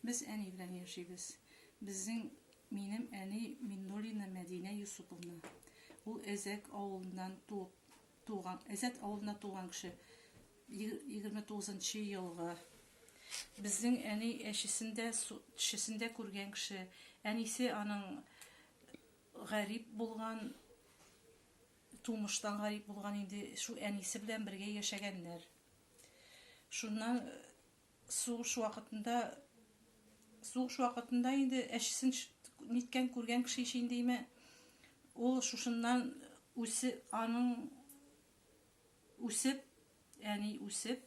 Без әни белән яшибез. Безнең минем әни Миннулина Мәдинә Юсуповна. Ул Әзәк авылыннан туып туган, Әзәк авылында туган кеше. 29 елга. Безнең әни әшесендә, тешесендә күргән кеше. Әнисе аның гарип булган, тумыштан гарип булган инде, шул әнисе белән бергә яшәгәннәр. Шуннан э, сугыш вакытында сугыш вакытында инде әчесен ниткән күргән кеше ич инде име ул шушыннан үсе аның үсеп яни үсеп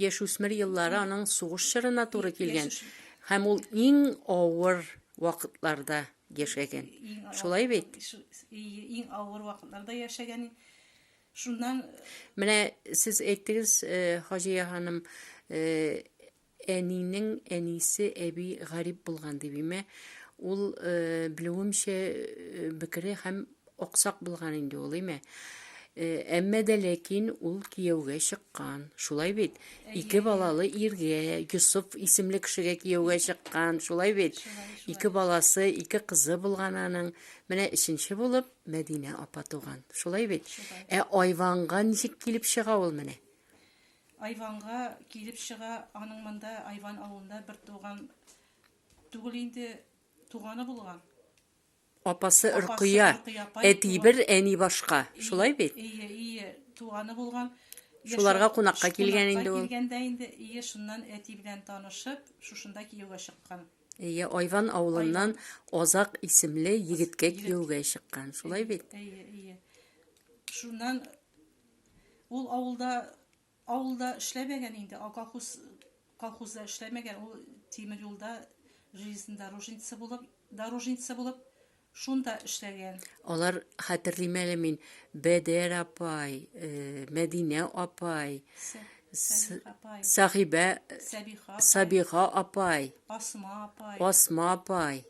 яшь үсмер еллары аның сугыш чорына туры килгән һәм ул иң авыр вакытларда яшәгән шулай бит иң авыр вакытларда яшәгән Шуннан Менә сез әйттегез, э, Хаҗия ханым, э, әнинең әнисе әби гарип булган дип име. Ул э, белүемчә э, бекере һәм аксак булган инде ул име. Э, Әмма дә ләкин ул кияүгә чыккан. Шулай бит? Ике балалы иргә, Йосыф исемле кешегә кияүгә чыккан. Шулай бит? Ике баласы, ике кызы булган аның. Менә өченче булып Мәдинә апа туган. Шулай бит? Шулай. Ә Айванга ничек килеп чыга ул менә? Айванга килеп чыга, аның монда Айван авылында бер туган түгел инде туганы булган. Апасы Ркыя, әти бер, әни башка. Шулай бит? Ие, ие, туганы булган. Шуларга кунакка килгән инде ул. Килгәндә инде, ие, шуннан әти белән танышып, шушында кияүгә чыккан. Әйе, Айван авылыннан Азак исемле егеткә кияүгә чыккан. Шулай бит? Әйе, әйе. Шуннан ул авылда авылда эшләмәгән инде, колхоз колхозда эшләмәгән, ул тимер юлда железный дорожница булып, дорожница булып Шунда эшләгән. Алар хәтерлим әле мин. Бәдәр апай, э, Мәдинә апай, Сәбих апай. Сәхибә, Сәбиха апай. Сабиха апай, Асма апай. Асма апай.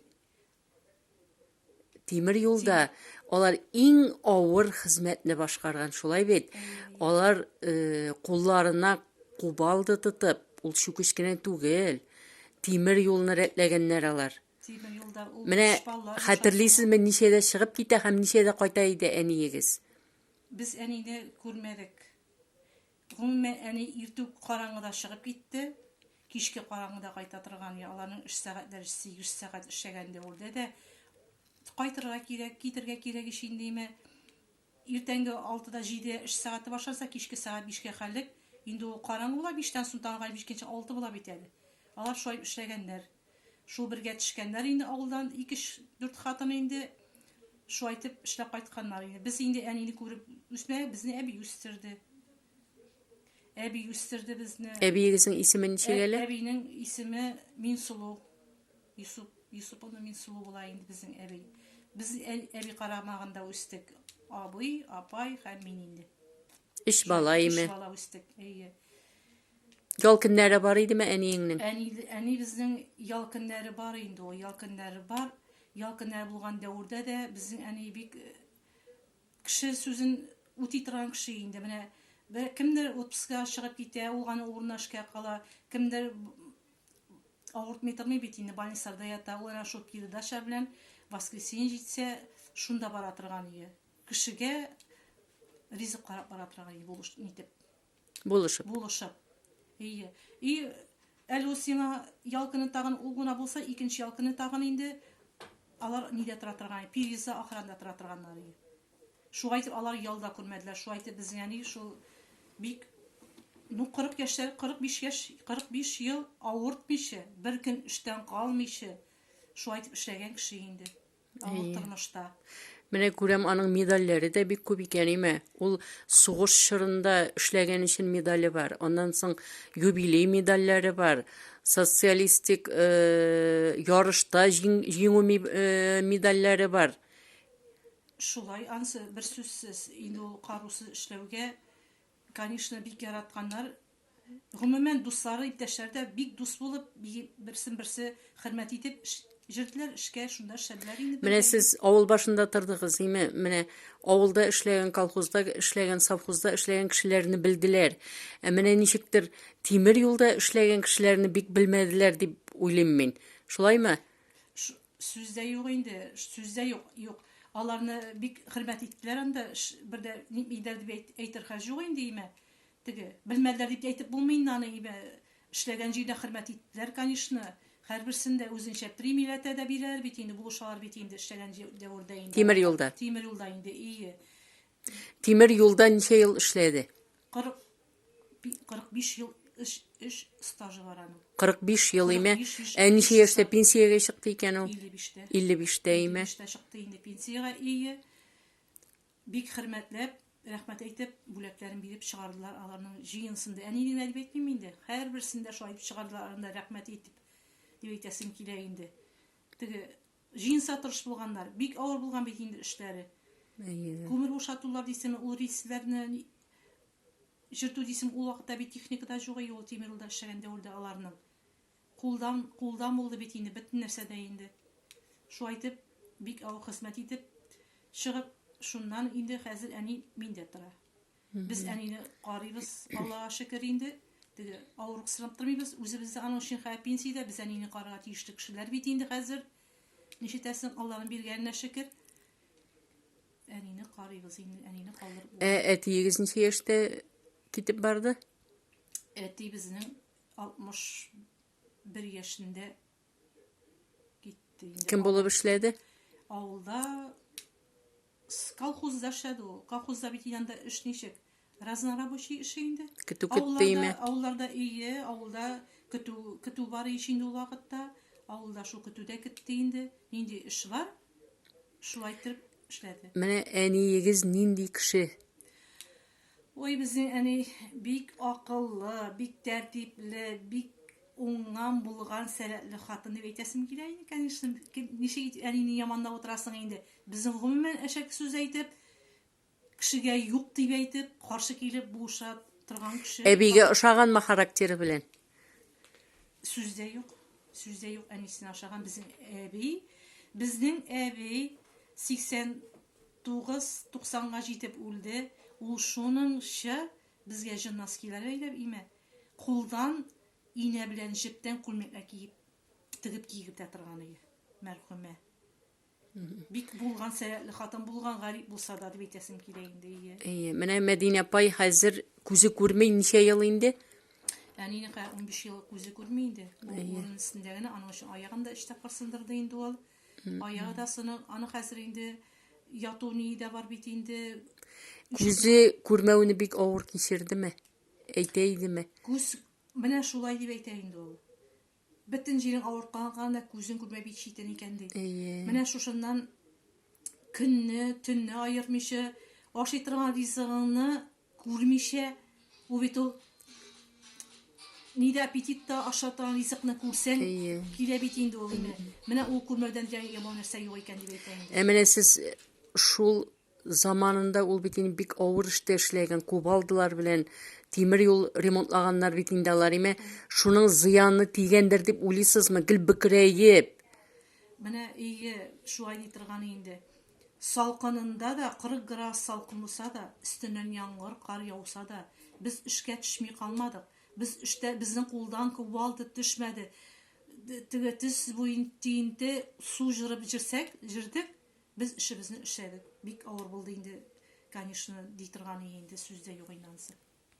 Тимер юлда алар иң авыр хезмәтне башкарган, шулай бит. Алар э, кулларына кубалды тотып, ул чүкеч кенә түгел. Тимер юлны рәтләгәннәр алар. Менә хәтерлисезме, ничәдә чыгып китә һәм ничәдә кайта иде әниегез? Без әнине күрмәдек. Гомумән, әни иртү караңгыда чыгып китте. Кичке караңгыда кайта торган, я аларның эш сәгатьләре 8 сәгать эшләгәндә ул дә кайтырга кирәк, китергә кирәк ич индеме. Иртәнге 6-да 7 эш сәгате башласа, кичке сәгать 5-кә хәлек. Инде ул караңгы була, 5-тән соң тагын 5-кенче 6 була бит әле. Алар шулай эшләгәннәр. Шул бергә төшкәннәр инде авылдан икеш дүрт хатын инде шулай итеп эшләп кайтканнар инде. Без инде әнине күреп үсмәдек, безне әби үстерде. Әби үстерде безне. Әбиегезнең исеме ничек әле? Әбинең исеме Минсылу. Йосып, Йосып аны Минсылу була инде безнең әби. Без әби карамагында үстек. Абый, апай һәм мин инде. Өч бала име? Өч бала үстек. Әйе. Ял көннәре бар идеме әниеңнең? Әни, әни безнең ял көннәре бар инде ул, ял көннәре бар. Ял көннәре булган дәвердә дә безнең әни бик э, кеше сүзен үти торган кеше инде. Менә бер кемдер отпускыга чыгып китә, ул гана урынына эшкә кала, кемдер авыртмый тормый бит инде, больницада ята, ул әнә шул передача белән воскресенье җитсә, шунда бара торган иде. Кешегә ризык карап бара торган иде, булыш нитеп. Булышып. Булышып. Ие. И әле ул сиңа ял көне тагын ул гына булса, икенче ял көне тагын инде алар нидә тора торган, переза охранда тора торганнар ие. Шулай итеп алар ял да күрмәделәр. Шулай итеп безнең әни шул бик ну 40 яшьләр, 45 яшь, 45 ел авыртмыйча, бер көн эштән калмыйча, шулай итеп эшләгән кеше инде. Авыл тормышта. Менә күрәм, аның медальләре дә бик күп икән, име? Ул сугыш чорында эшләгән өчен медале бар. Аннан соң юбилей медальләре бар. Социалистик э, ярышта җиңү э, медальләре бар. Шулай, ансы бер сүзсез. Инде ул карусыз эшләүгә, конечно, бик яратканнар. Гомумән, дуслары, иптәшләре дә бик дус булып, берсен-берсе хөрмәт итеп җөрделәр эшкә, шунда эшләделәр инде. Менә сез авыл башында тордыгыз, име? Менә авылда эшләгән, колхозда эшләгән, совхозда эшләгән кешеләрне белделәр. Ә менә ничектер тимер юлда эшләгән кешеләрне бик белмәделәр дип уйлыйм мин. Шулаймы? Сүз дә юк инде, сүз дә юк, юк. Аларны бик хөрмәт иттеләр анда, бер дә нитмиләр дип әйтер хәл юк инде, име? Теге, белмәделәр дип тә әйтеп булмый инде аны, ибә эшләгән җирдә хөрмәт иттеләр, канишны. Хәрберсен дә үзенчә премияләтә дә бирәләр бит инде, булышалар бит инде эшләгән җир дәвердә инде. Тимер юлда. Тимер юлда инде, ие. Тимер юлда ничә ел эшләде? 40 45 ел эш эш стажы бар аның. 45 ел име? 45 яшь- Ә ничә яшьтә пенсиягә чыкты икән ул? 55-тә. 55-тә име? 55-тә чыкты инде пенсиягә, ие. Бик хөрмәтләп, рәхмәт әйтеп, бүләкләрен биреп чыгардылар аларның җыенысын да. Әни генә дип әйтмим инде, һәрберсен дә шулай дип чыгардылар аларны да рәхмәт әйтеп, дип әйтәсем килә инде. Теге җыенса тырыш булганнар. Бик авыр булган бит инде эшләре. Әйе. Күмер бушатулар дисеме, ул рельсләрне җырту дисеме, ул вакытта бит техника да юк, әйе, ул тимер юлда эшләгән дәвердә аларның. Кулдан кулдан булды бит инде бөтен нәрсә дә инде. Шулай итеп, бик авыр хезмәт итеп чыгып, шуннан инде хәзер әни миндә тора. Без әнине карыйбыз, Аллага шөкер инде, теге авырыксынып тормыйбыз. Үзебез дә аның өчен хәзер пенсиядә, без әнине карарга тиешле кешеләр бит инде хәзер. Ничетәсең, Алланың биргәненә шөкер. Әнине карыйбыз инде, әнине калдырып Ә булмый. әтиегез ничә яшьтә китеп барды? Әти безнең 61 яшендә китте инде. Кем булып эшләде? Авылда колхозда эшләде ул. Колхозда бит янда эш ничек? Разнорабочий эше инде. Көтү көттейме? Авылларда ие, авылда көтү көтү бар ич инде ул вакытта. Авылда шул көтүдә китте инде. Нинди эш бар? Шулай итеп эшләде. Менә әниегез нинди кеше? Ой, безнең әни бик акыллы, бик тәртипле, бик уңган, булган, сәләтле хатын дип әйтәсем килә инде, конечно. Ничек итеп әнине яманлап утырасың инде? Безнең гомумән әшәке сүз әйтеп, кешегә юк дип әйтеп, каршы килеп булыша торган кеше. Әбигә ошаганмы характеры белән? Сүз дә юк. Сүз дә юк әнисенә ошаган безнең әби. Безнең әби 80 Тугыз, туксанга җитеп үлде, ул шуның чы безгә җы носкилар бәйләп име, кулдан инә белән җептән күлмәкләр киеп, тегеп кигеп тә торган иде, мәрхүмә. Бик булган сәләтле хатын булган, гарип булса да, дип әйтәсем килә инде, ие. Ие, менә Мәдинә апай хәзер күзе күрми ничә ел инде? Әнинеке унбиш ел күзе күрми инде. Ул урын өстендә генә, аның өчен аягын да өч тапкыр сындырды инде ул. Аягы да сынык, аны хәзер инде яту ние дә бар бит инде. Күзе күрмәүне бик авыр кичердеме? Әйтә идеме? Күз менә шулай дип әйтә инде ул. Бөтен җирең авыртканга да күзең күрмәй бик читен икән ди. Менә шушыннан көнне, төнне аермыйча ашый торган ризыгыңны Күрмичә, ул бит ул ни дә аппетит та ашата, ризыкны күрсәң, Әйе. килә бит инде ул инде. Менә ул күрмәүдән дә яман нәрсә юк икән дип әйтә инде. Ә менә сез э, шул заманында ул бит инде бик авыр эштә эшләгән, кубалдылар белән тимер юл ремонтлаганнар бит инде алар, име? Шуның зыяны тигәндер дип уйлыйсызмы? Гел бөкрәеп. Менә өйгә шулай ди торган инде. Салкынында да, 40 градус салкын булса да, өстеннән яңгыр, кар яуса да, без эшкә төшми калмадык. Без эштә, безнең кулдан кувалда төшмәде. Теге төс буен тиенте, су җырып җирсәк, җирдек, без эшебезне эшләдек. Бик авыр булды инде, конечно, ди торган инде сүз дә юк инде анысы.